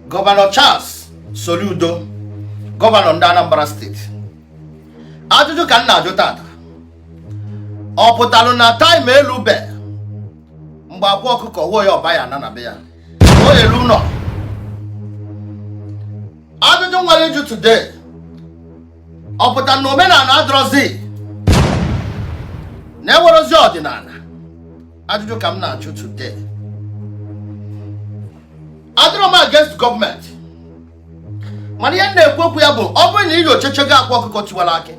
gọvanọ Charles Soludo gọvanọ ndị Anambra steeti ajụjụ ka m na-ajụ tata ọ pụtalụ na taịm elube mgbe akwa ọkụkọ wuo ya Ọba ya-ana be ya o elu ụlọ ajụjụ m nwere ịjụ today ọ pụtara na omenala adịrọzi na enwerọzi ọdịnala ajụjụ ka m na-ajụ today adịrọ m against gọọmenti mana ihe m na-ekwu okwu ya bụ ọ bụrụ na i nyochachago akwa ọkụkọ tiwara akị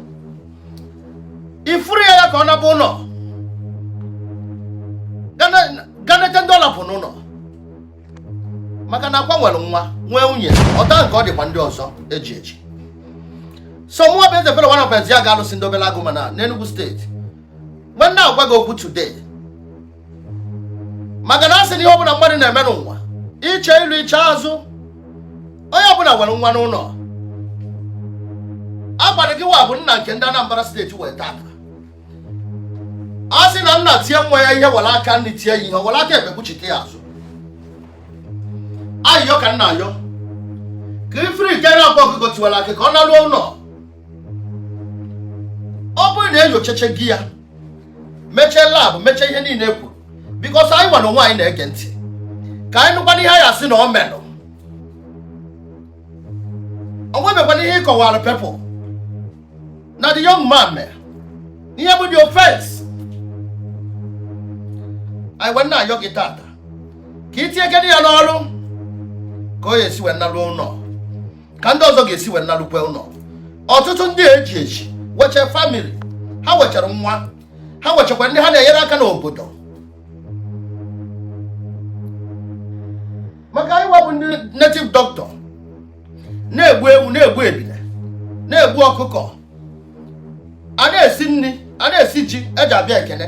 i free ya ka ọ naba ụlọ ga nete ndị ọ rapụ n'ụlọ maka na akwa nwere nwa nwee nwunye otu a ka ọ dịkwa ndị ọzọ eji eji so mụọ bụ eze fere one of ya ga-alụsị ndị omenala ọgụ mana n'Enugu steeti wee na-agwa gị okwu today maka na a sị na ihe ọbụla mmadụ na-eme n'ụwa i chee ilu i chee azụ onye ọbụla nwere nwa n'ụlọ ọ kwa gị wa bụ nna nke ndị Anambra steeti nwere taa a sị na nna tie nwa ya ihe were aka nri tie ya ihe were aka ekpe kpuchite ya azụ ayịyọ ka m na-ayọ ka i free nke a na-akpọ ọkụkọ tiwara akị ka ọ naruo ụlọ ọ bụrụ na e nyochachago ya mechee lab mechee ihe niile e kwuru because anyịnwa onwe anyị na-ege ntị ka anyị nụkwanụ ihe a ya-asị na o merụ o nwebekwanụ ihe ị kọwara people na the young man mere ihe bụ the offense anyị wee na-ayọ gị tata ka i tinye gịnị ya n'ọrụ ka ọ ya-esi wee naruo ụlọ ka ndị ọzọ ga-esi wee narukwe ụlọ ọtụtụ ndị eji eji nweche family ha nwechara nwa ha nwechakwa ndị ha na-enyere aka n'obodo maka anyịwa bụ ndị native doctor na-egbu ewu na-egbu ebile na-egbu ọkụkọ a na-esi nri a na-esi ji eji abịa ekele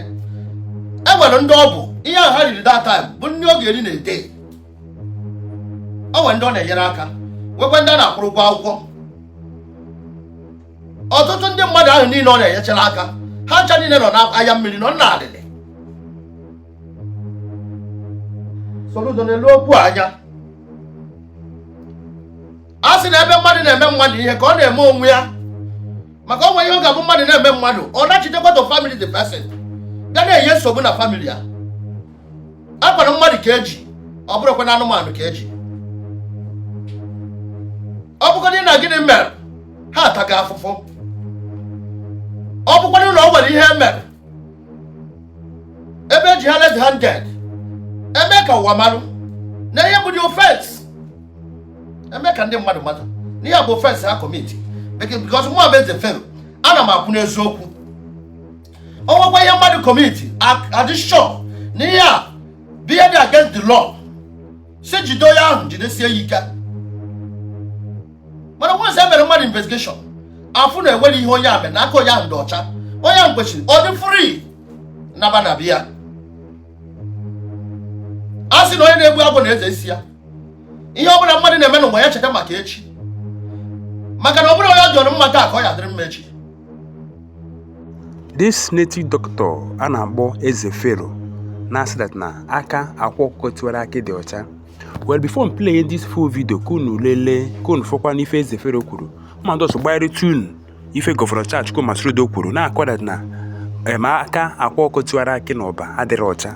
e nwere ndị ọ bụ ihe ha riri that time bụ nri ọ ga-eri in a day o nwere ndị ọ na-enyere aka nwekwa ndị a na-akwụrụ ụgwọ akwụkwọ ọtụtụ ndị mmadụ ahụ niile ọ na-enyechara aka ha ncha niile nọ n'anya mmiri nọ n'alịlị Soludo neluo okwu anya a sị na ebe mmadụ na-eme mmadụ ihe ka ọ na-eme onwe ya maka o nwe ihe ọ ga-abụ mmadụ na-eme mmadụ ọ nachitekwa to family the person ga na-enye nsogbu na family ya akwara mmadụ ka eji ọ bụrụkwa na anụmanụ ka eji ọ bụkwanụ na gịnị mere ha ataga afụfụ ọ bụkwanụ na o nwere ihe e mere eme eji ha red handed eme ka ụwa marụ na ihe bụ the offence eme ka ndị mmadụ mata na ihe bụ offence ha kọmiti because mụ bụ Eze Fero ana m akwụ n'eziokwu o nwekwa ihe mmadụ kọmiti a dị sure na ihe a bụ ihe dị against the law si jide onye ahụ jidesie ya ike mana once e mere mmadụ investigation afụ na enweghị ihe onye a mere na aka onye ahụ dị ọcha onye ahụ kwesịrị ọ dị free naba na be ya a sị na onye na-egbu agwọ na-eze isi ya ihe ọ bụla mmadụ na-eme n'ụwa ya cheta maka echi maka na ọ bụrọ onye ọ dịịrị mma taa ka ọ ya-adịrị mma echi This native doctor a na-akpọ Eze Fero na-asị that na aka akwa ọkụkọ tiwara akị dị ọcha. Well before m play this full video ka unu lelee ka unu fụkwanụ ife Eze Fero kwuru ma m also gbanyeretụ unu ife gọvanọ Charles Chukwuma Soludo kwuru na-akọ that na em aka akwa ọkụkọ tiwara akị na Ọba adịrọ ọcha.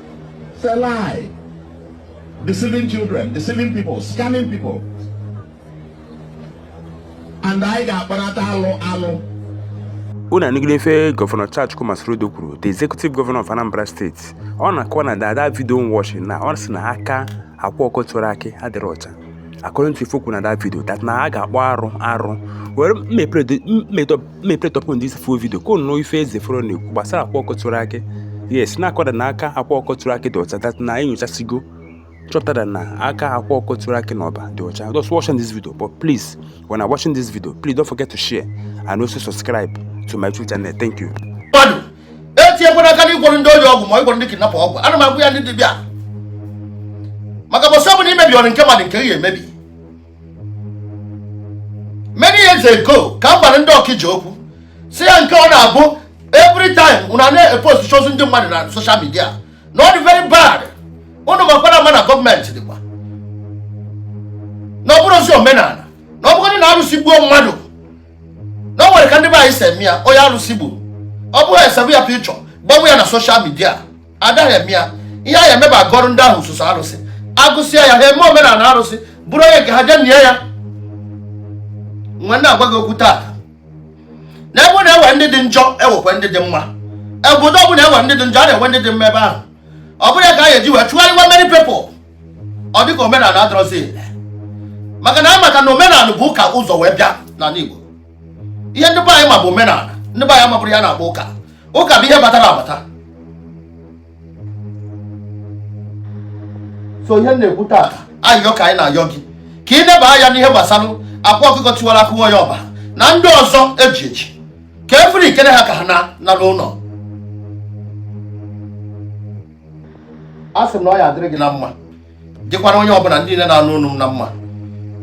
It's a lie. Deceiving children, deceiving people, scamming people. And anyị ga-akparata alụ alụ. unu anụgide ife gọvanọ Charles Chukwuma Soludo kwuru the executive governor of Anambra State ọ na-akọwa na that video watching na ọ sị na aka akwa ọkụkọ tiwara akị adịrọ ọcha according to ife o kwuru na that video that na a ga-akpọ arụ arụ well let me play unu the full video ka unu nụ ife Eze Fero na-ekwu gbasara akwa ọkụkọ tiwara akị yes na-akọ that na aka akwa ọkụkọ tiwara akị dị ọcha that na enyochasigo chọpụta na aka akwa ọkụkọ tiwara akị na Ọba dị ọcha just watching this video but please when I'm watching this video please don't forget to share and also subscribe to my YouTube channel thank you. etinyekwana aka na ịgwọrọ ndị ohi ọgwụ ma ịgwọrọ ndị kidnapper ọgwụ ana m agwa ya ndị dibịa maka mbọsị ọ bụla imebi ọrụ nke mmadụ nke ya emebi many years ago ka m gwara ndị Ọkịja okwu si ya nke ọ na-abụ every time unu na-eposti ozu ndị mmadụ na social media na ọ dị very bad unu makwara ama na gọọmenti dịkwa na ọ bụrọzị omenala na ọ bụgodị na arụsị gbuo mmadụ na o nwere ka ndị be anyị si eme ya onye arụsị gburu ọ bụghị esewe ya picture buwe ya na social media adaghị eme ya ihe a ya-eme bụ agọrụ ndị ahụ sọsọ arụsị agụsịa ya ha eme omenala arụsị buru onye nke ha jee nie ya nwanne na-agwa gị okwu taa na ebe e nwere ndị dị njọ e nwekwa ndị dị mma obodo ọ bụla e nwere ndị dị njọ a na-enwe ndị dị mma ebe ahụ ọ bụrọ ya ka a ga-eji wee chụgharịwa many people ọ dịka omenala adịrọzi ele maka na anyị mata na omenala bu ụka ụzọ wee bịa n'ala Igbo ihe ndị be anyị ma bụ omenala ndị be anyị amaburọ ihe a na-akpọ ụka ụka bụ ihe batara abata so ihe na-ekwu taa ayọ ka anyị na-ayọ gị ka ị neba anya n'ihe gbasara akwa ọkụkọ tiwara akị onye Ọba na ndị ọzọ eji eji ka efere ikere ha ka ha naa n'ụlọ a sị m na ọ ya adịrị gị na mma dịkwara onye ọbụla ndị niile na-anụ olu m na mma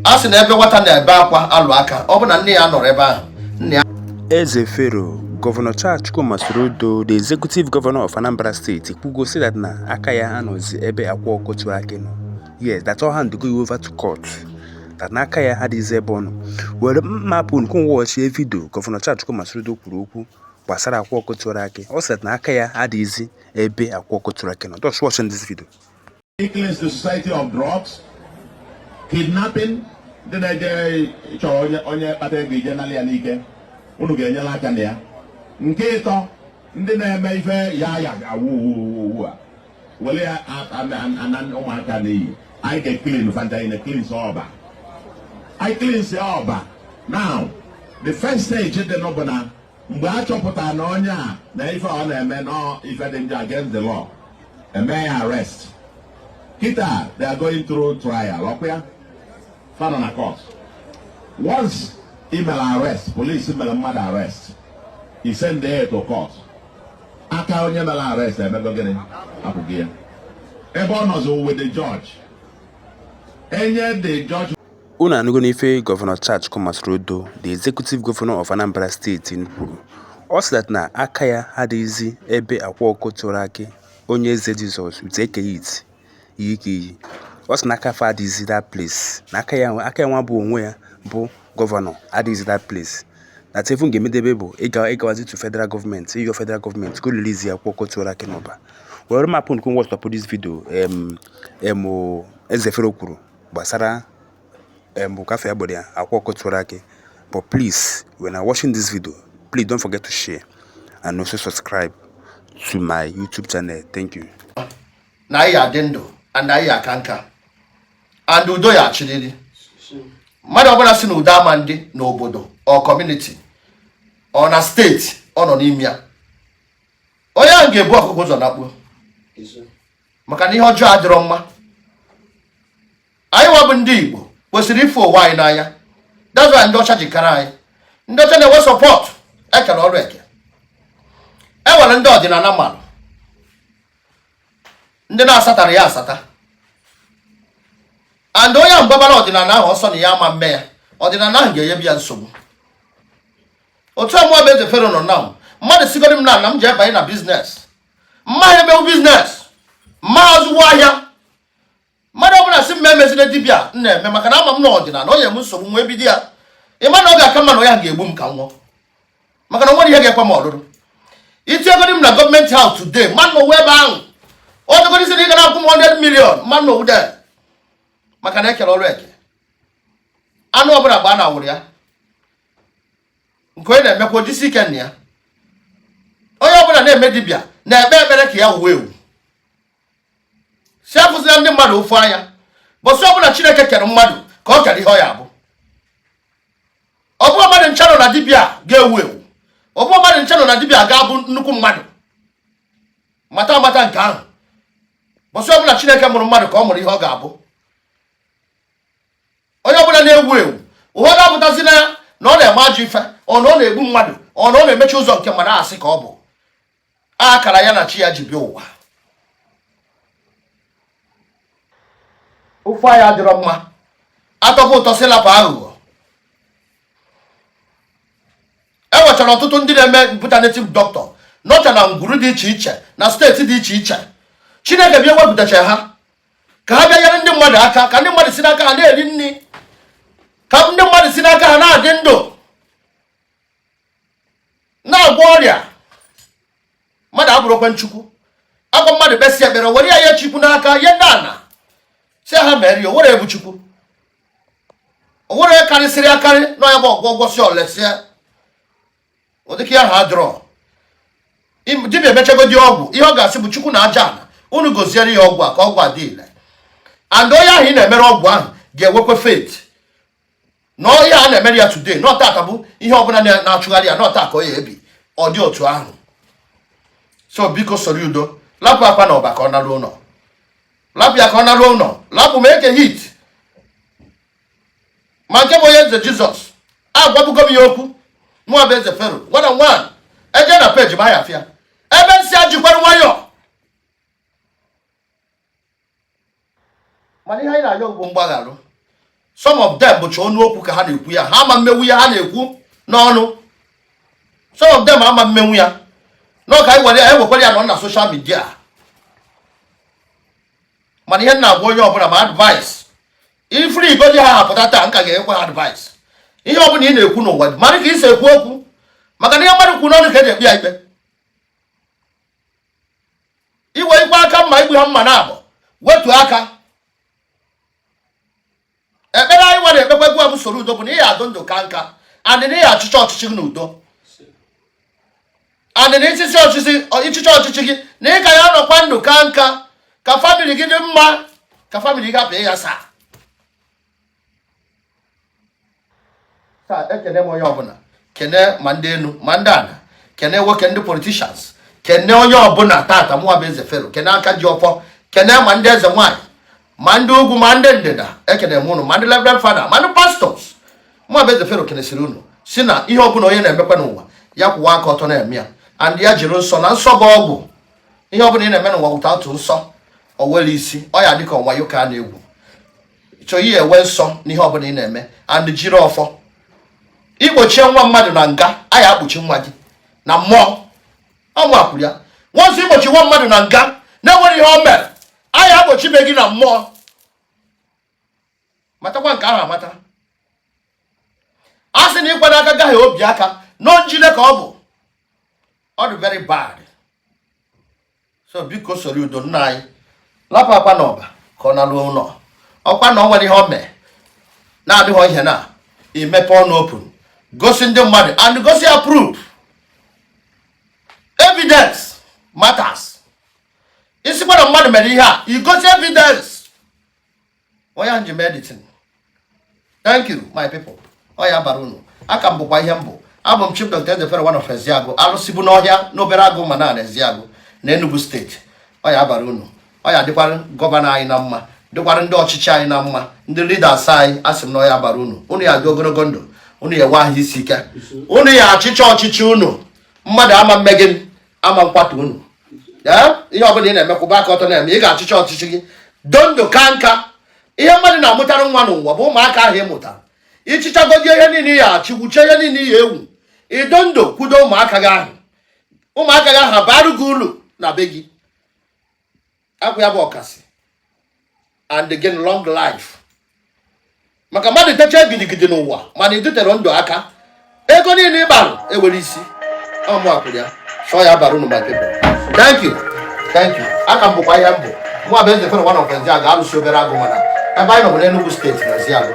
a sị na ebe nwata na-ebe akwa alụ aka ọ bụ na nne ya anọrọ ebe ahụ nna ya Eze Fero, Gọvanọ Charles Chukwuma Soludo, the executive governor of Anambra State, kwugo si that na aka ya anọzi ebe akwa ọkụkọ tiwara akị nọ. Yes, that ọ handigo over to court. That na aka ya adịghịzi ebe ọ nọ. Were m hapụ unu ka unu wọchie vidio Gọvanọ Charles Chukwuma Soludo kwuru okwu gbasara akwa ọkụkọ tiwara akị. Ọ sị that na aka ya adịghịzi ebe akwa ọkụkọ tiwara akị nọ just watch this video cleanse the society of drugs kidnapping ndị na-eje chọọ onye onye kpata ego e jee nalị ya n'ike unu ga-enyela aka na ya nke ịtọ ndị na-eme ife ya ya awụ uwu a were ya ana ụmụaka n'iyi anyị ga-eklin fa ncha anyị na-eklins Ọba anyị klins Ọba now the first stage dị na ya bụ na mgbe a chọpụtara na onye a na ife ọ na-eme na ife dị njọ against the law e mee ya arrest kịta they are going through trial ọkwa ya fa nọ na court once e mere arrest police mere mmadụ arrest e send ya to court aka onye mere arrest emego gịnị apụgo ya ebe ọ nọzi with the judge enye the judge Unu anụgo n'ife Gọvanọ Charles Chukwuma Soludo, the Executive Governor of Anambra State kwuru. Ọ sị that na aka ya adịghịzi ebe akwa ọkụkọ tiwara akị onye eze Jizọs with Eke Hit Eke Hit. Ọ sị na aka fa adịghịzi that place na aka ya aka ya nwa bụ onwe ya bụ gọvanọ adịghịzi that place. That ife unu ga-emedebe bụ ịga ịgawazi to federal gọọmenti ịyọ federal gọọmenti ka ọ release akwa ọkụkọ tiwara akị n'Ọba. Were m hapụ unu ka unu watchie this video em em o, Ezefero kwuru. gbasara um maka ife gbasara akwa ọkụkọ tiwara akị but please when you're watching this video please don't forget to share and also subscribe to my YouTube channel thank you. na ị ya-adị ndụ and na ị ya-aka nka and udo ya-achịrịrị mmadụ ọbụla si na udo ama adị n'obodo or kọmuniti or na steeti ọ nọ n'ime ya onye ahụ ga-ebu ọkụkọ ụzọ nakpuo maka na ihe ọjọọ adịrọ mma anyị wa bụ ndị Igbo kwesịrị ịfụ onwe anyị n'anya that's why ndị ọcha ji karịa anyị ndị ọcha na-enwe support e kere ọrụ eke e nwere ndị ọdịnala mmadụ ndị na-asatara ya asata and onye ahụ gbaara ọdịnala ahụ ọsọ na ya ama eme ya ọdịnala ahụ ga-enyebe ya nsogbu otu a mụwa bụ eze fero nọ na mmadụ sigoro m na ana m ji ebanye na business m ma emewu business m ma azụwu ahịa mmadụ ọbụla sị m emezina dibịa m na-eme maka na ama m na ọdịnala enye m nsogbu wee bido ya ị ma na ọ ga-aka mma na onye ahụ ga-egbu m ka m nwụọ maka na o nwerọ ihe ga-ekwe m ọlụrụ i tinyegodi m na government house today m ma anọwu ebe ahụ ọ dịgodi ị sị na ị ga na-akwụ m 100 million m ma anọwu de maka na e kere ọrụ eke anụ ọbụla gba na awụrụ ya nke onye na-emekwa o jisie ike na ya onye ọbụla na-eme dibịa na-ekpe ekpere ka ya wuo ewu sị afụzina ndị mmadụ ụfụ anya ụbọsị ọbụla chineke kere mmadụ ka o kere ihe ọ ya-abụ ọ bụrọ mmadụ ncha nọ na dibịa ga-ewu ewu ọ bụrọ mmadụ ncha nọ na dibịa ga-abụ nnukwu mmadụ mata amata nke ahụ ụbọsị ọbụla chineke mụrụ mmadụ ka ọ mụrụ ihe ọ ga-abụ onye ọbụla na-ewu ewu ụfọdụ apụtazi na ya na ọ na-eme ajọ ife or na ọ na-egbu mmadụ or na ọ na-emechi ụzọ nke mmadụ asị ka ọ bụ akara ya na chi ya ji bịa ụwa ụfụ anya adịrọ mma atọpụ ụtọ si lapụ aghụghọ e nwechara ọtụtụ ndị na-eme better native doctor nọcha na ngwuru dị iche iche na state dị iche iche chineke bịa wepụtacha ha ka ha bịa nyere ndị mmadụ aka ka ndị mmadụ si n'aka ha na-eri nri ka ndị mmadụ si n'aka ha na-adị ndụ na-agwọ ọrịa mmadụ abụrọkwa Chukwu a gwọọ mmadụ kpesịa ekpere e were ya nye Chukwu n'aka ihe ndị a na-asị ha mere ya o nwerọ onye bụ Chukwu o nwerọ onye karịsịrị akarị na ya bụ ọgwụ ọ gwọsịa o lesịa ụdị aka ahụ adịrọ dibịa mechagodi ọgwụ ihe ọ ga-asị bụ Chukwu na aja ala unu goziere ya ọgwụ a ka ọgwụ a dị ile and onye ahụ ị na-emere ọgwụ ahụ ga-enwekwa faith na onye a na-emere ya today na ọ taa ka ọ bụ ihe ọbụla na-achụgharị ya na ọ taa ka ọ ya-ebi ọ dị otu ahụ so biko Soludo lapụ Akwa na Ọba ka ọ naruo ụlọ lapụ ya ka ọ naruo ụlọ lapụ ma Eke Hit ma nke bụ onye eze jizọs agwabugo m ya okwu mụwa bụ eze fero one on one e je na peji m a ya afụ ya ebe m sị ya jikwara nwayọọ mana ihe anyị na-ayọ bụ mgbagharụ some of them bụcha ọnụ okwu ka ha na-ekwu ya ha ama mmenwu ya ha na-ekwu n'ọnụ some of them ama mmenwu ya n'ọka anyị were ya ewekwara ya nọ na soshal midia mana ihe m na-agwa onye ọbụla ma advice ị free godị ha apụta taa m ka ga-ekwe ha advice ihe ọbụla ị na-ekwu n'ụwa mara ka ị si ekwu okwu maka na ihe mmadụ kwu n'ọnụ ka eji ekpe ya ikpe iwe ikwe aka mma igbu ha mana abụ wetu aka ekpere anyị nwa na-ekpekwa ugbu a bụ soludo bụ na ị ya adị ndụ ka nka and na ị ya achịcha ọchịchị gị n'udo and na ị chịchaa ọchịchị ị chịchaa ọchịchị gị na ị ka ya anọkwa ndụ ka nka ka famili gị dị mma ka famili gị apụ ya saa taa ekene m onye ọbụla kene ma ndị enu ma ndị ana kene nwoke ndị politishans kene onye ọbụla tata mụwa bụ eze fero kene aka ji ọfọ kene ma ndị eze nwaanyị ma ndị ugwu ma ndị ndịda ekene m ụnụ ma ndị reverend fada ma ndị pastọs mụwa bụ eze fero kenesịrị unu si na ihe ọbụla onye na-emekwa n'ụwa ya kwụwa aka ọtọ na-eme ya and ya jiri nsọ na nsọ bụ ọgwụ ihe ọbụla ị na-eme n'ụwa wụta otu nsọ or else ọ ya adị ka ọ wayo ka a na-egwu chọọ inwe nsọ n'ihe ọbụla ị na-eme and jiri ọfọ ị kpọchie nwa mmadụ na nga a ya akpọchi nwa gị na mmụọ ọ mụwa kwuru ya once ị kpọchie nwa mmadụ na nga na-enwerọ ihe o mere a ya akpọchibe gị na mmụọ matakwa nke ahụ amata a sị na ịkwa n'aka gaghị obi aka n'onjile ka ọ bụ ọ dị very bad so biko soludo nna anyị lapụ akwa na ọba ka ọ naruo ụlọ ọkwa na o nwere ihe o mere na-adịghị ihe na imepe ọnụ open gosi ndị mmadụ and gosi ya proof evidence matters ị sịkwa na mmadụ mere ihe a i gosi evidence ọya nji medicine thank you my people ọ ya abara unu a ka m bụkwa ihe m bụ abụ m chief dr eze fero one of ezeagụ alụsị bụ n'ọhịa n'obeleagụ ụmana n'ezeagụ na enugu steeti ọ ya abara unu ọ ya adịkwara gọvanọ anyị na mma dịkwara ndị ọchịchị anyị na mma ndị leaders anyị asị m na ọ ya abara unu unu ya adị ogologo ndụ unu ya enwe ahụ isi ike unu ya achịcha ọchịchị unu mmadụ ama mme gịnị ama nkwatu unu ihe ọbụla ị na-eme kwụba aka ọtọ na-eme ị ga-achịcha ọchịchị gị dị ndụ ka nka ihe mmadụ na-amụtara nwa n'ụwa bụ ụmụaka ahụ ị mụtara ị chịchagodi ihe niile ị ya achị wuchaa ihe niile ị ya ewu ị dị ndụ kwudo ụmụaka gị ahụ ụmụaka gị ahụ bara gị ulu na be gị akwụ ya bụ ọkasị and again long life maka mmadụ techa gidigidi n'ụwa mana ị dịterọ ndụ aka ego niile ị kparụ enwerọ isi ọmụ akwụrụ ya chọọ ya bara unu ma tebụl thank you thank you a ka m bụkwa ihe m bụ mụ abụ eze fere nwa na ofenzi a ga-alụsi Obeleagụ Ụmana ebe anyị nọ bụ n'Enugu steeti na Ezeagụ